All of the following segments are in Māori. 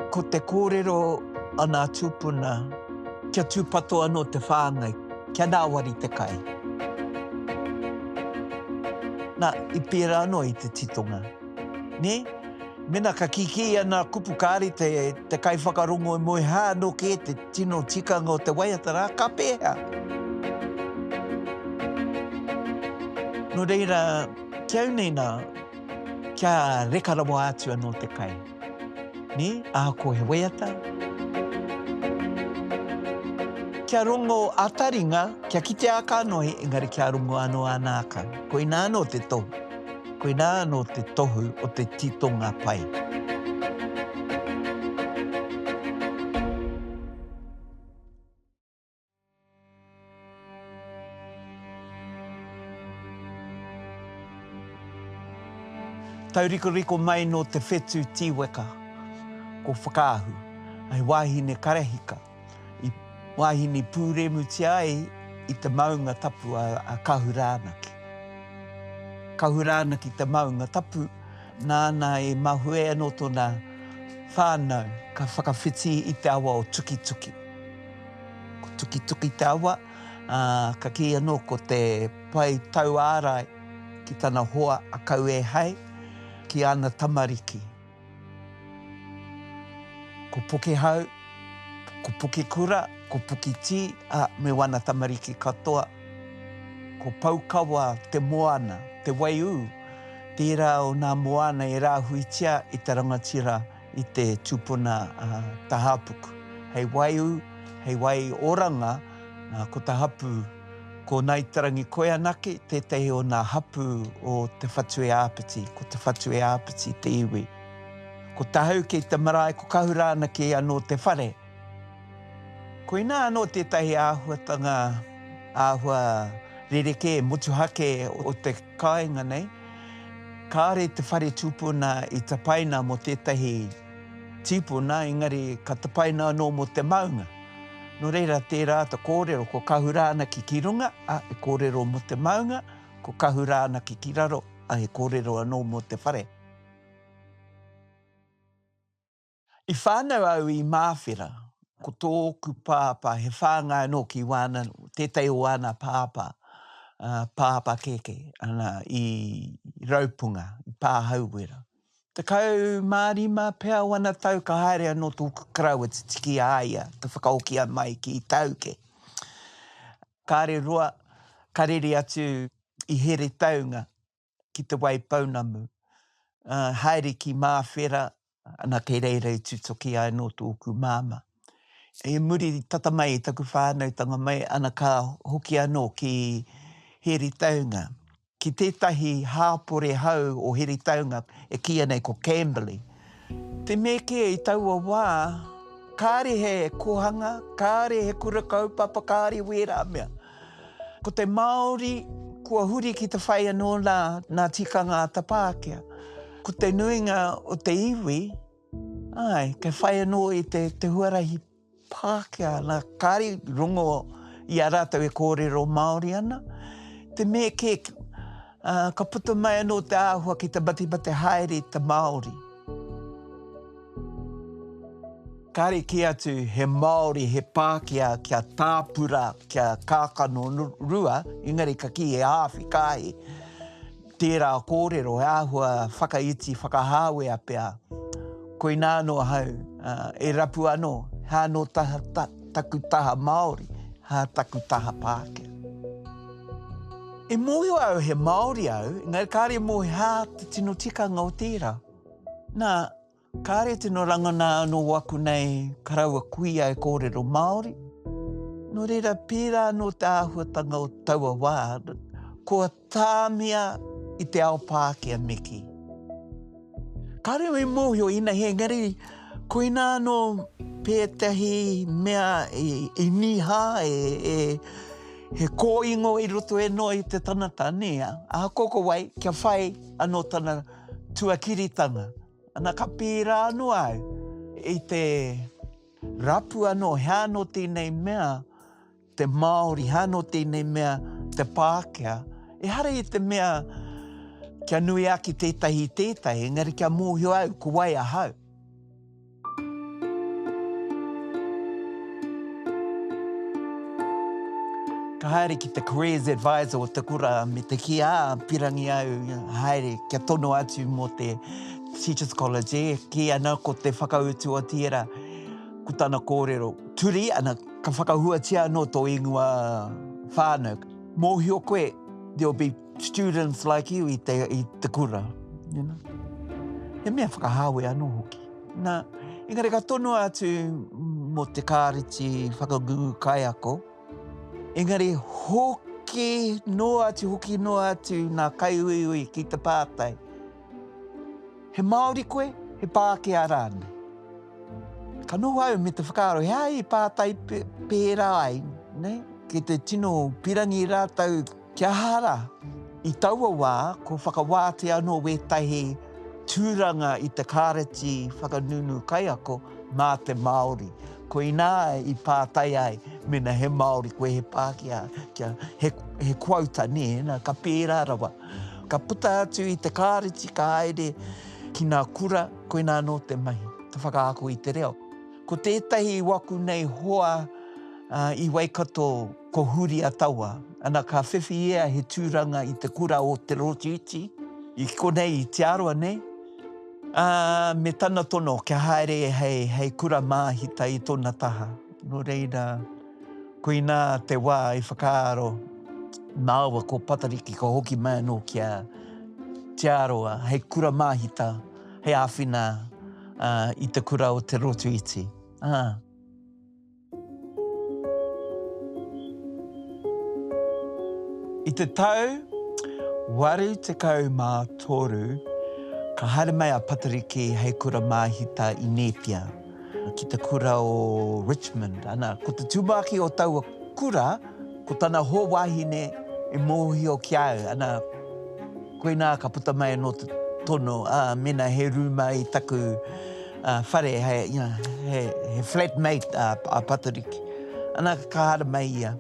Ko te kōrero a nā tūpuna, kia tūpato anō te whāngai, kia nāwari te kai. Nā, i pērā anō i te titonga. Nē? Mēnā ka kikī ia nā kupu kāre te, te kaiwhakarongo e moe, hā, nō kē te tino tikanga o te waiata rā, ka pēhea? Nō reira, ki au nei nā, Kia reka rawa atu anō te kai. Nē? Ahakoa he waiata. Kia rongo a taringa, kia kite a kanohi, engari kia rongo anō a nākau. Koinā anō te tohu. Koinā anō te tohu o te titonga pai. Taurikoriko mai nō te whetū tīweka ko Whakaahu, hei wāhine karehika, i wāhine i pūremutia ai i te maunga tapu a Kahurānaki. Kahurānaki te maunga tapu, nāna e mahue anō tōna whānau ka whakawhiti i te awa o Tukituki. Ko Tukituki te awa, ā, ka kī anō ko te pae tauārai ki tana hoa a Kauēhai, ki ana tamariki. Ko Pukehau, ko Pukekura, ko Puketī, ā, me wana tamariki katoa. Ko Poukawa te moana, te waiū, tērā o nā moana e rāhuitia e te rangatira. i te tupuna a Ta Hāpuku. Hei waiū, hei wai oranga ko ta hapu, ko Naitarangi koe anake tētahi o nā hapu o Te Whatueāpiti, ko Te Whatueāpiti te iwi. Ko tahau kei te marae, ko Kahurānaki anō te whare. Koinā anō tētahi āhuatanga, āhua rerekē motuhake o te kāinga nei. Kāore te whare tūpuna i tapaina mō tētahi tīpuna, engari ka tapaina anō mō te maunga. Nō reira, tērā te kōrero, ko Kahu Rānaki ki runga, ā, he kōrero mō te maunga, ko Kahu Rānaki ki raro, ā, he kōrero anō mō te whare. I whānau au i Māwhera, ko tōku pāpā he whāngai anō ki wāna, tētahi o wāna pāpā, pāpā kēkē, ana, i Raupunga, i Pāhauwera. Tekau mā rima pea wana tau ka haere anō tōku karau a Titi ki a ia, ka whakahokia mai ki Tāuke. Kāre roa, ka reri atu i Heretaunga. ki Te Waipounamu, ā, haere ki Māwhera, ana kei reira i tutoki ai nō tōku māmā. I muri tata mai i taku whānautanga mai, ana ka hoki anō ki Heretaunga, ki tētahi hāpore hau o Heretaunga e kīia nei ko Camberley. Te Meke i taua wā, kāre he kōhanga, kāre he kura kaupapa, kāre wērā mea. Ko te Māori, kua huri ki te whai anō nā ngā tikanga a te Pākehā. Ko te nuinga o te iwi, āe, kei whai anō i te huarahi. Pākehā ana, kāre i rongo i a rātou e kōrero Māori ana, te me kē, ā, ka puta mai anō te āhua ki te matemate haere i te Māori. Kāre kē atu he Māori, he Pākehā kia tāpura, kia kākano rua, engari ka kī he Āwhikaahi. Tērā kōrero he āhua whakaiti, whakahāwea pea. Koinā anō ahau e rapu anō, he anō taku taha Māori, he taku taha Pākehā. E mōhio au he Māori au, engari kāre mō he hā te tino tikanga o tērā. Nā, Kāre tino rangona anō aku nei ka raua kuia e kōrero Māori. Nō reira, pērā anō te āhuatanga o taua wā, kua tāmia i te ao Pākehā me kī. Kāre au i mōhio ināihe, engari koinā anō pētahi mea i, i nīhā e, e, he kōingo i roto e noa i te tanata, nē, a, a koko wai kia whai anō tana tuakiritanga. Ana ka pērā anō au i te rapu anō, he anō tēnei mea te Māori, he anō tēnei mea te Pākehā. Ehara i te mea kia nui a ki tētahi i tētahi, engari kia mōhio au ko wai ahau. Ka haere ki te Careers Advisor o te kura me te kī, ā, pirangi au, haere kia tonoa atu mō te Teachers College e, kī ana ko te whakautu o Tiera, ko tana kōrero, turi ana, ka whakahuatia anō tō ingoa whānau, mōhio koe, there'll be. students like you i te, i te kura, you know. He mea whakahāwea anō hoki. Nā, engari ka tonoa atu mō te kāreti whakagūgū kaiako, engari hoki noa atu, hoki noa atu nā kaiuiui ki te pātai, he Māori koe, he Pākehā rānei? Ka noho au me te whakaaro, he aha i pātai pērā ai, nei? Ki te tino pirangi rātou Ki aha rā, i taua wā ko whakawātea anō wētahi tūranga i te kāreti whakanunu kaiako mā te Māori. Koinā i pātai ai mēnā he Māori koe, he Pākehā, kia, he, he quota, nē, nā, ka pērā rawa. Ka puta atu i te kāreti, ka haere ki ngā kura, koinā anō te mahi, te whakaako i te reo. Ko tētahi i waku nei hoa i Waikato ko Huria Tawa, ana ka whiwhi ia he tūranga i te kura o Te Rotiiti, i konei i Te Arawa nei, ā, me tana tono kia haere hei kura māhita i tōna taha. Nō reira, koinā te wā i whakaaro māua ko Patariki ka hoki mai anō ki a Te Arawa hei kura māhita. He āwhina i te kura o Te Rotoiti. I te tau 83, ka haere mai a Patariki hei kura māhita i Nēpia, ki te kura o Richmond. Ana, ko te tūmāki o taua kura, Ko tana hoa wahine i mōhio ki a au, ana, koinā ka puta mai anō te tono, ā, mēnā he rūma i taku whare, he, you know, he flat mate a Patariki, ana, ka haramai ia.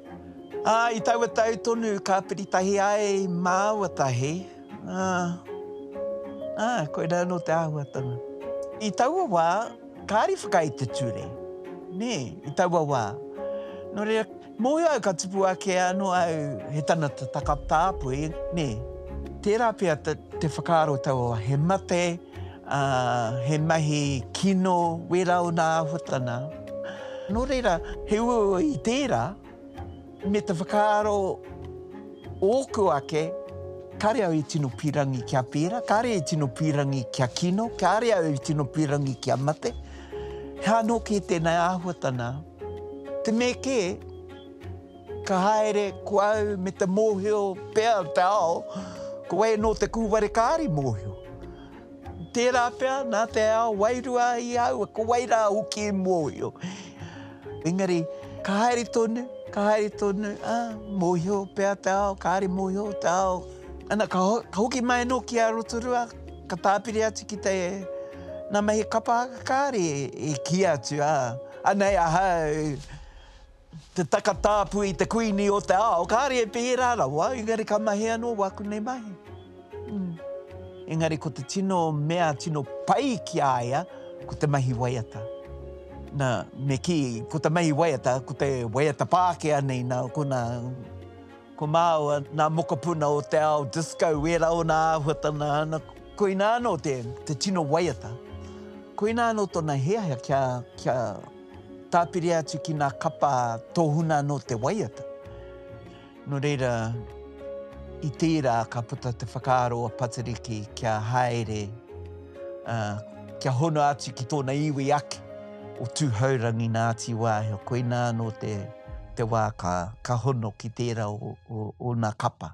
Ā, i taua tau tonu ka piri tahi ai māua tahi, ā, ā, koirā anō te āhuatanga. I taua wā. Kāre whakaae te ture, nē, i taua wā. Nō reira, mōhio au ka tupu ake anō au he tana tataka tāpui, nē. Tērā pea te whakaaro tauawa, he mate, ā, he mahi kino, wera ōna āhuatana. Nō reira, he uaua i tērā. Me te whakaaro ōku ake, kāre au i tino pīrangi kia pērā, kāre i tino pīrangi kia kino, kāre au i tino pīrangi kia mate. He anō kē tēnei āhuatana. Te me kē, ka haere ko au me te mōhio pea te ao, ko wai anō te kūware kāri mōhio. Tērā pea, nā te ao wairua i a au, ko wai rā hoki e mōhio. Engari, ka haere tonu, ka haere tonu, ā, mōhio pea te ao, kāre mōhio te ao. Ana, ka hoki mai anō ki a Rotorua, ka tāpiri atu ki te, nā, mei he kapa haka kāre e kī atu, ā, anei ahau. Te takatāpu i te Kuini o te Ao, kāre e pērā rawa, engari ka mahea anō wāku nei mahi. Engari ko te tino mea tino pai ki a ia, ko te mahi waiata. Nā, me kī, ko te mahi waiata, ko te waiata Pākehā nei, nā konā, ko māua nā mokopuna o te ao disco ērā ōna āhuatanga, nā, koinā anō te, te tino waiata. Koinā anō tōna hiahia kia, kia. Tāpiri atu ki nā kapa tōhuna nō te waiata. Nō reira, i tērā ka puta te whakaaro a Patariki kia haere, ā, kia hono atu ki tōna iwi ake o Tūhourangi Ngāti Wāhia. Koinā anō te wā ka hono ki tērā o nā kapa.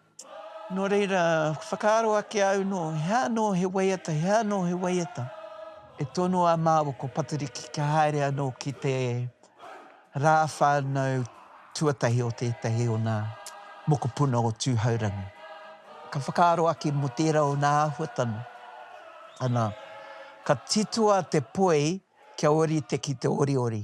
Nō reira, whakaaro ake au nō, he aha anō he waiata, he aha anō he waiata? E tono a māua ko Patariki kia haere anō ki te rā whānau tuatahi o tētahi o nā mokopuna o Tūhourangi. Ka whakaaro ake mō tērā o nā āhuatanga, ana, ka titoa te poi kia ōrite ki te oriori.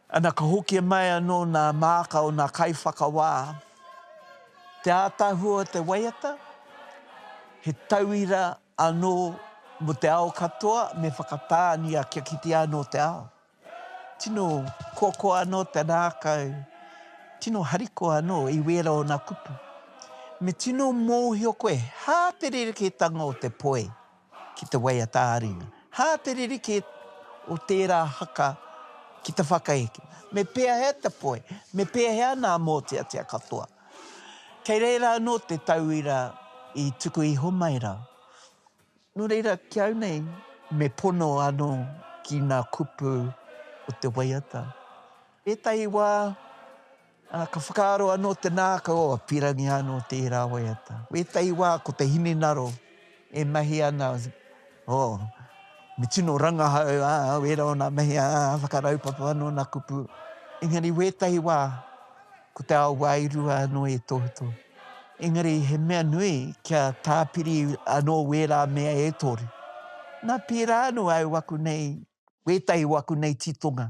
Ana ka hoki mai anō nā māka o nā kaiwhakawā, te ātaahua o te waiata, he tauira anō mō te ao katoa me Whakatānia kia kitea anō te ao. Tino koakoa anō te rākau, tino harikoa anō i wēra ōna kupu. Me tino mōhio koe, hā te rerekētanga o te poi. ki te waiata ā-ringa. Hā te rerekē o tērā haka ki te whakaeke, me pēhea te poe, me pēhea nā mōteatea katoa. Kei reira anō te tauira i tuku iho mai rā. Nō reira, ki au nei, me pono anō ki ngā kupu o te waiata. Ētahi wā. Ā, ka whakaaro anō te nākau, o, pīrangi anō tērā waiata. Wētahi wā ko te hinengaro e mahi ana, o, me tino rangahau, ā, wērā ōna mahi, ā, whakaraupapa anō ōna kupu. Engari wētahi wā, ko te ao wairua anō e tohutohu. Engari he mea nui kia tāpiri anō wērā mea e toru. Nā, pērā anō au aku nei, wētahi o aku nei titonga,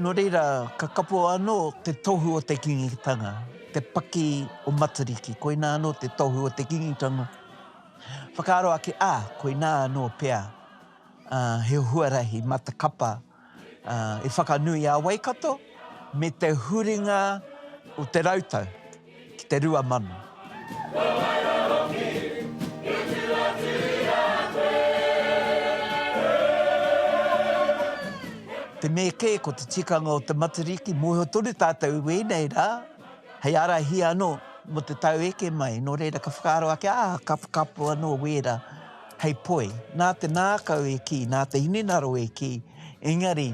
Nō reira, ka kapo anō te tohu o te Kingitanga, te paki o Matariki, koinā anō te tohu o te Kingitanga. Whakaaro ake, ā, koinā anō pea, ā, he huarahi mata kapa, ā, i whakanui a Waikato me te huringa o te rautau. ki te rua mano. Te me kē ko te tikanga o te Matariki, mōhio tonu tātou i wēnei rā, hei ārahi anō mō te tau eke mai, nō reira ka whakaaro ake, ā, ka whakapo anō wēra hei poi. Nā te nākau e kī, nā te hinengaro e kī, engari,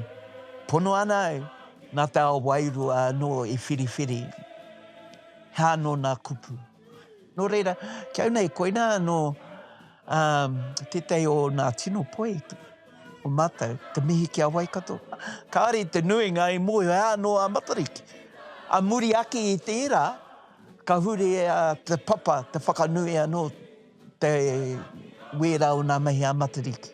pono ana au, Nā te ao wairua anō i whiriwhiri, he anō nā kupu. Nō reira, ki au nei, koinā anō tētahi o nā tino poi o mātou, te mihi ki a Waikato. Kāre te nuinga i mōhio, he anō a Matariki. A muri ake i tērā, ka huri te papa, te whakanui anō, te wērā o nā mahi a Matariki.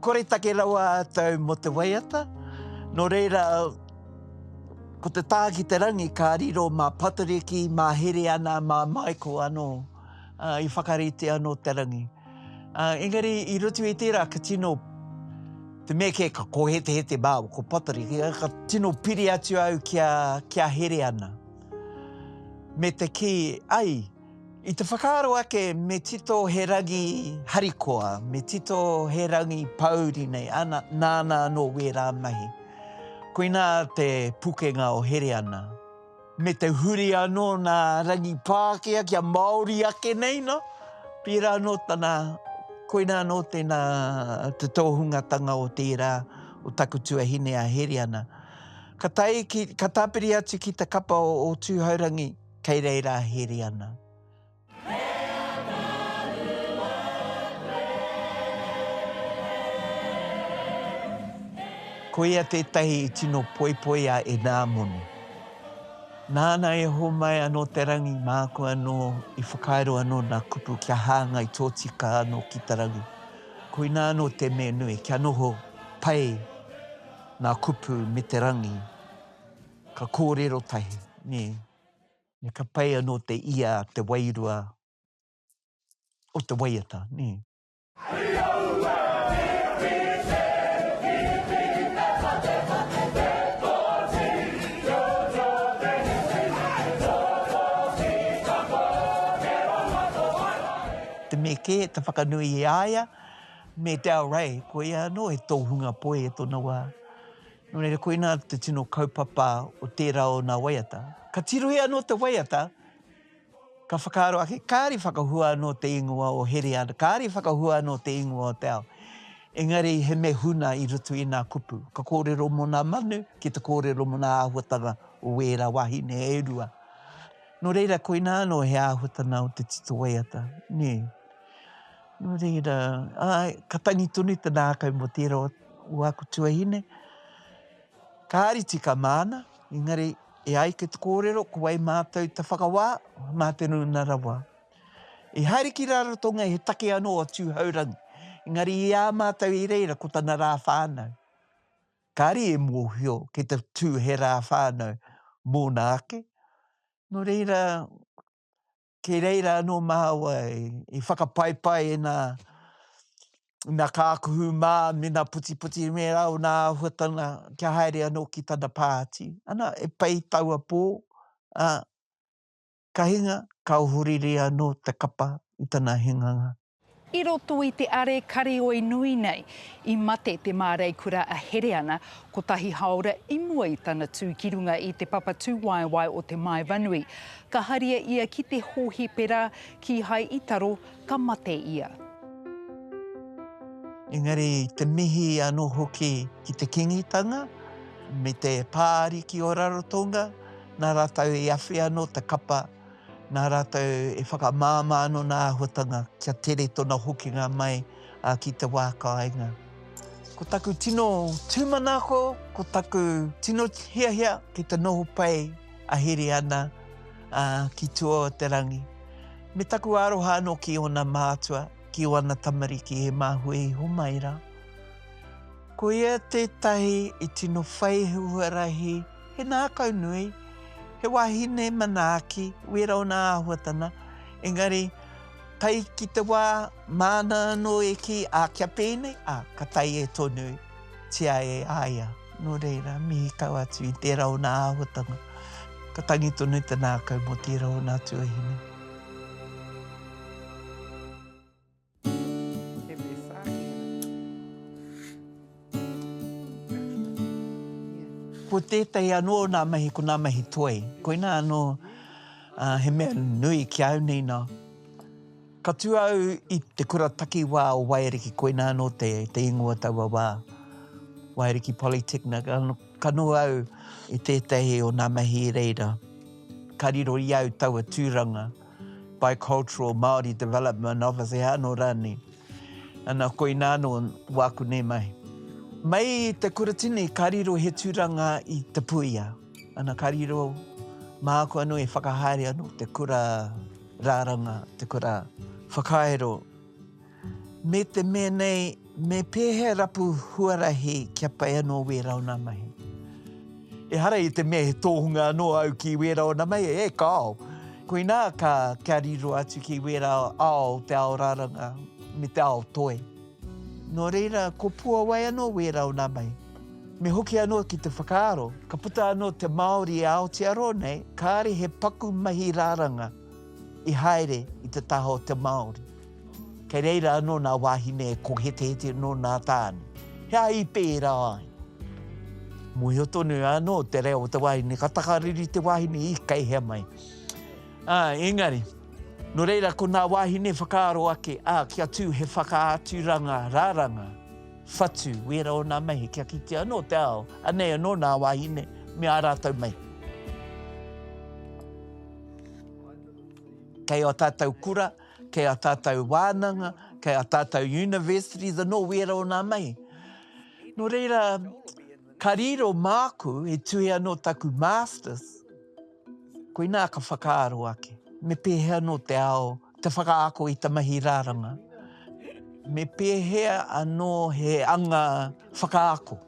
Koretake rawa tātou mō te waiata, nō reira, ko te taha ki te rangi ka riro mā Patariki, mā Hiriana, mā Maiko anō, ā, i whakarite anō te rangi. Ā, engari i roto i tērā ka tino, te mea kē ka kōhetehete māua ko Patariki, ā, ka tino piri atu au ki a, ki a Hiriana, me te kī, ai, I te whakaaro ake me tito he rangi harikoa, me tito he rangi pōuri nei, ana, nāna anō wērā mahi. Koinā te pukenga o Hereana. Me te huri anō nā rangi Pākehā kia Māori ake nei, nā, pērā anō tana, koinā anō tēnā te tōhungatanga o tērā, o taku tuahine a Hereana. Ka tae ki, ka tāpiri atu ki te kapa o Tūhourangi. Kei reira a Hiriana. Ko ia tētahi i tino poipoi a Enāmoni. Nāna e homai anō te rangi, māku anō i whakairo anō nā kupu kia hāngai tōtika anō ki te rangi. Koinā anō te mea nui, kia noho pai nā kupu me te rangi. Ka kōrero tahi, nē. Me ka pai anō te ia a te wairua o te waiata, nē. Hei aua e whiwhi, whiwhi te whate, whate te poti, tio, tio te hipi, he tōtōti ka kōrero mato ai, ai. Te meke, te whakanui i a ia, me te aurei, koia anō he tōhunga poi e tona wā. Nō reira, koinā te tino kaupapa o tērā o nā waiata. Ka tirohia anō te waiata, ka whakaaro ake, kāre whakahua anō te ingoa o Herea, kāre whakahua anō te ingoa o te ao. Engari he mea huna i roto i nā kupu. Ka kōrero mō nā manu ki te kōrero mō nā āhuatanga o wērā wāhine e rua. Nō reira, koinā anō he āhuatana o te tito waiata, nē. Nō reira, āe, ka tangi tonu te nākau mō tērā o aku tuahine. Ka āriti ka māna, engari e ai ki te kōrero, ko wai mātou te whakawā, mā te rūna rawa. I haere ki Rarotonga he take anō a Tūhourangi, engari i a mātou i reira ko tana rā whānau. Kāre e mōhio ki te tū he rā whānau mōna ake. Nō reira, Kei reira anō māua i whakapaipai i nā, i nā kākuhu mā me nā putiputi i me rāua nā āhuatanga kia haere anō ki tana pāti. Ana, e pei taua pō, ā, ka hinga, ka ohorere anō te kapa i tana hinganga. I roto i te are karioi nui nei, i mate te māreikura a Hereana, kotahi hāora i mua i tana tū ki runga i te papa tūwaewae o Te Maewanui. Ka haria ia ki te hōhipera, kīhai i taro, ka mate ia. Engari i te mihi anō hoki ki te Kīngitanga me te pā ariki o Rarotonga, nā rātou i awhi anō te kapa Nā rātou e whakamāmā ana ōna āhuatanga kia tere tōna hokinga mai ki te wā kāinga. Ko taku tino tūmanako, ko taku tino hiahia ki te noho pai a Hiriana ki tua o te rangi. Me taku aroha anō ki ōna mātua, ki ōna tamariki e mahue iho mai rā. Ko ia tētahi i tino whai huarahi. He ngākau nui, he wāhine manaaki, wera ōna āhuatana, engari pai ki te wā māna anō e kī, ā, kia pēnei, ā, ka tae e tonutia e a ia. Nō reira, mihi kau atu i tērā ōna āhuatanga, ka tangi tonu te ngākau mō tērā ōna tuahine. Ko tētahi anō o nā mahi, ko nā mahi toi. Koinā anō he mea nui ki au nei nā. Ka tū au i te kura takiwā o Waeriki, koinā anō te ingoa o taua wā, Waeriki Polytechnic. Ka noho au i tētahi o nā mahi i reira. Ka riro i au taua tūranga. Bicultural Māori Development Office, he aha nō rānei. Ana, koinā anō wāku nei mahi. Mai i te Kuratini, ka riro he tūranga i Te Puia. Ana, ka riro māku anō e whakahaere anō te kura rāranga, te kura whakairo. Me te me nei, me pēhea rapu huarahi kia pai anō wērā o nā mahi? Ehara i te mea he tōhunga anō au ki wērā o nā mahi, e kāo. Koinā ka kia riro atu ki wērā ao, te ao raranga me te ao toi. Nō reira, ko puawai anō wērā o nā mahi. Me hoki anō ki te whakaaro, ka puta anō te Māori e Aotearoa nei, kāre he paku mahi raranga i haere i te taha o te Māori. Kei reira anō nā wāhine e kōhetehete anō nā tāne. He aha i pērā ai? Mōhio tonu anō te reo o te wāhine, ka takariri te wāhine, ih, kei hea mai? Ā, engari, nō reira ko nā wāhine whakaaro ake, ā, kia tū he whakaaturanga raranga, whatu, wēra o nā mahi kia kitea anō te ao, anei anō nā wāhine me ā rātou mahi. Kei ō tātou kura. kei a tātou wānanga, kei a tātou university, the no wera o nā mahi. Nō reira, ka riro māku e tuhi anō taku masters, koinā ka whakaaro ake, me pēhea anō te ao, te whakaako i te mahi rāranga, me pēhea anō he anga whakaako.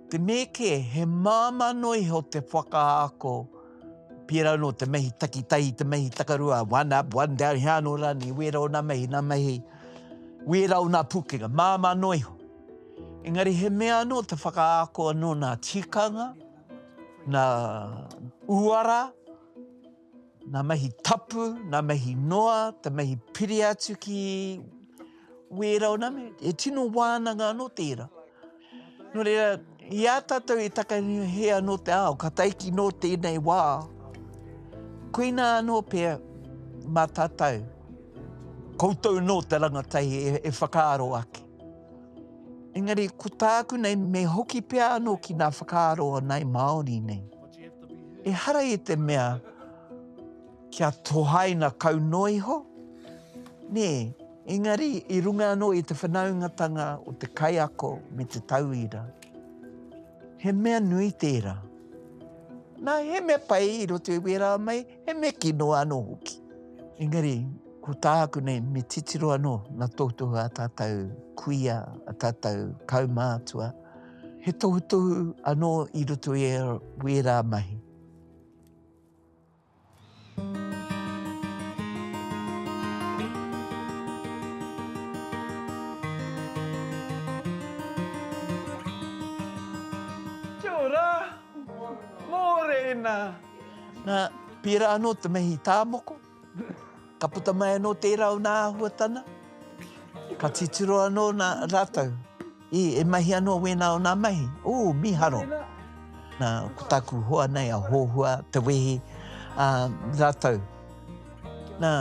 Te meke, he māmā noa iho te whakaako, Pērā nō te mehi takitahi, te mehi takarua, one up, one down, he anō rānei, wērā ōna mehi, nā mehi, wērā ōna pūkenga, māmā noa iho. Engari he mea anō te whakaako anō nā tikanga, nā uara, nā mehi tapu, nā mehi noa, te mehi piri atu ki wērā ōna mehi. E tino wānanga anō tērā. Nō reira, i a tātou e takahia anō te ao, ka tae ki nō tēnei wā, koina anō pea mā tātou, koutou nō te rangatahi e, e whakaaro ake. Engari, ko tāku nei, me hoki pea anō ki nā whakaaro o nāi Māori nei. Ehara i te mea, kia tohaina kau noa iho, nē, Engari, i runga anō i te whanaungatanga o te kaiako me te tauira, he mea nui tērā. Nā, he mea pai i roto i wērā mai, he mea kino anō hoki. Engari, ko tāku nei, me titiro anō ngā tohutohu a tātou kuia, a tātou kaumātua, he tohutohu anō i roto i wērā mahi. Kia ora! Mōrena! Nā, pērā anō te mihi i tā moko, ka puta mai anō tērā o nā āhuatana, ka titiro anō nā rātou. I, e mahi anō wēnā o nā mahi? Ū, mīharo. Nā, ko tāku hoa nei a Hōhua, Te Wehi, ā, rātou. Nā,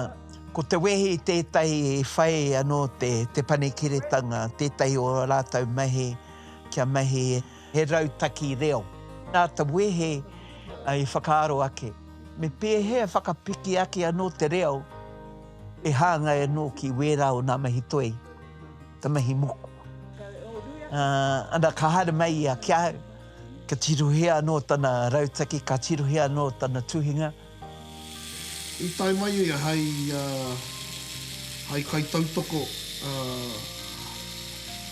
ko Te Wehi tētahi i whai anō te, te panekiretanga, tētahi o ō rātou mahi, kia mahi he rautaki reo. Nā Te Wehi i whakaaro ake, me pēhea whakapiki ake anō te reo e hāngai anō ki wērā o nā mahi toi? te mihi moko. Ana, ka haere mai ia ki ahau, ka tirohia anō tana rautaki, ka tirohia anō tana tuhinga. I tae mai ia hei, hei kaitautoko, ā,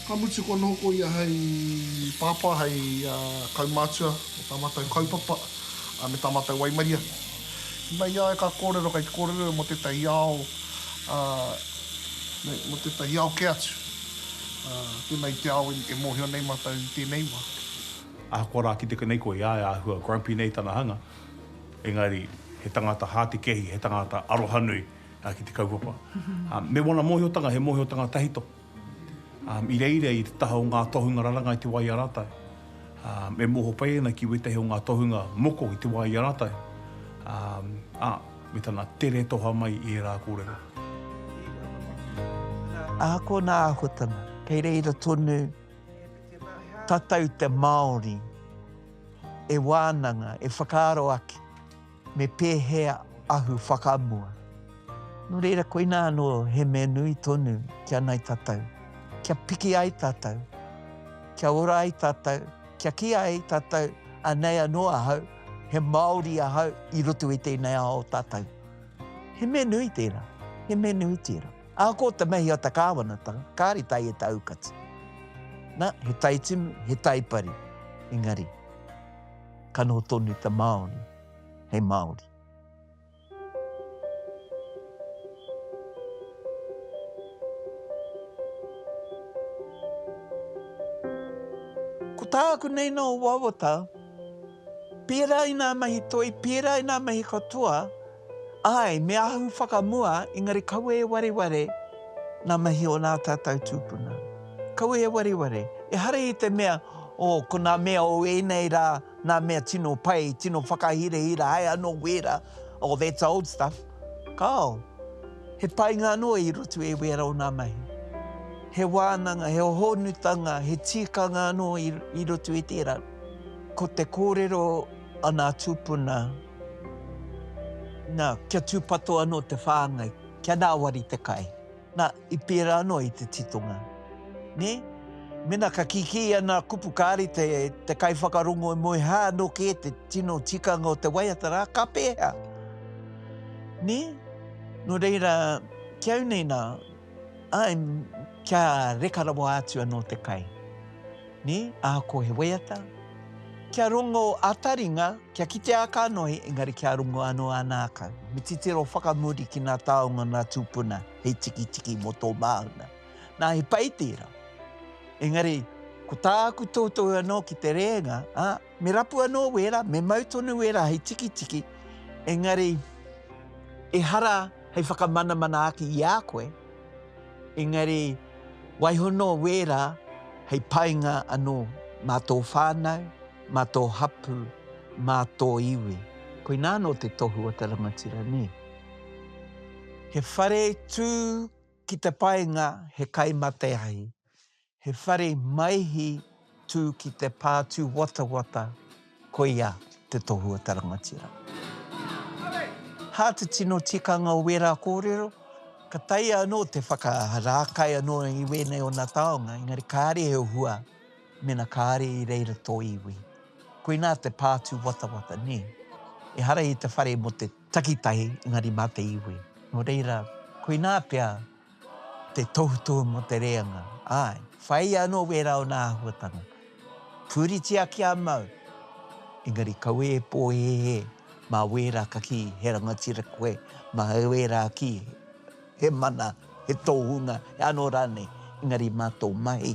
ka mutu kua noho ko ia hei pāpā, hei kaumātua o tā mātou kaupapa, ā, me tā mātou waimaria. Ki mai ia e ka kōrero, kei te kōrero ia mō tētahi ao, ā, Nei, mō tētahi ao kē atu. Ā, tēnā i te ao e mōhio nei mātou i tēnei wā. Ahakoa rā, ki te konei ko ia e āhua grumpy nei tana hanga, engari he tangata hātekehi, he tangata arohanui ki te kaupapa. Me wana mōhiotanga, he mōhiotanga tahito. I reira i te taha o ngā tohunga raranga i te wā i a rātou. E mōhio pai ana ki wētahi o ngā tohunga moko i te wā i a rātou. Ā, me tana tere toha mai i ērā kōrero. Ahakoa nā āhuatanga, kei reira tonu tatau te Māori e wānanga, e whakaaro ake me pēhea ahu whakamua. Nō reira koinā anō he mea nui tonu kia nai tatau, kia piki ai tatau, kia ora ai tatau, kia kī ai tatau, anei anō ahau, He Māori ahau i roto i tēnei ao o tātou. He mea nui tērā, he mea nui tērā. Ahakoa te mahi o te kāwanatanga, kāre tae e te aukati. Na, he tai tunu, he tai pari, engari, kano tonu te Māori hei Māori. Ko tāku nei nō wawata, pērā i ngā mahi toi, pērā i ngā mahi katoa, āe, me ahu whakamua, engari kaua e wareware ngā mahi o nā tātou tūpuna. Kaua e wareware, ehara i te mea, oh, ko ngā mea o ēnei rā, Nā mea tino pai, tino whakahirahira hai anō wēra, oh that's old stuff, kāo, he painga anō i roto e wēra o nā mahi. He wānanga, he hōnutanga, he tīkanga anō i roto i tērā. Ko te kōrero a nā tūpuna, nā, kia tūpato anō te whāngai, kia nāwari te kai. Na, i pera ano i te titonga. Ne? Mena ka kikī ana a kupu kāre te, te kaiwhakarongo e moe hā ano kē te tino tikanga o te waiata rā, ka pēhea? Ne? No reira, ki au nei nā, ae, kia reka rawa atu ano te kai. Nē, ahako he waiata, kia rongo a taringa, kia kite a kanohi, engari kia rongo anō a nākau. Me titiro whakamuri ki nā taonga nā tūpuna hei tikitiki mō tō māuna. Nā, he pai tērā. Engari, ko tāku toutou anō ki te rēnga, ā, Me rapu anō wērā, me mau tonu wērā hei tikitiki, engari ehara hei whakamanamana ake i a koe, engari waiho nō wērā hei painga anō mā tō whānau, mā tō hapū, mā tō iwi. Koinā anō te tohu o te rangatira, nē. He whare tū ki te painga he kai mateahi, He whare maihi tū ki te pā tūwatawata, koia te tohu o te rangatira. Hā te tino tikanga o wērā kōrero, ka taea anō te whakarākai anō i wēnei ōna taonga, engari kāre he hua mēnā kāre i reira tō iwi. Koinā te pā tūwatawata, nē, ehara i te whare mō te takitahi, engari mā te iwi. Nō reira, koinā pea. te tohutohu mō te rēanga, āe, whai anō wērā ōna āhuatanga. Puritia ki a Mau, engari kawe e pōhēhē, mā wērā ka kī he rangatira koe, mā wērā kī he mana, he tōhunga, he anō rānei, engari mā tō mahi,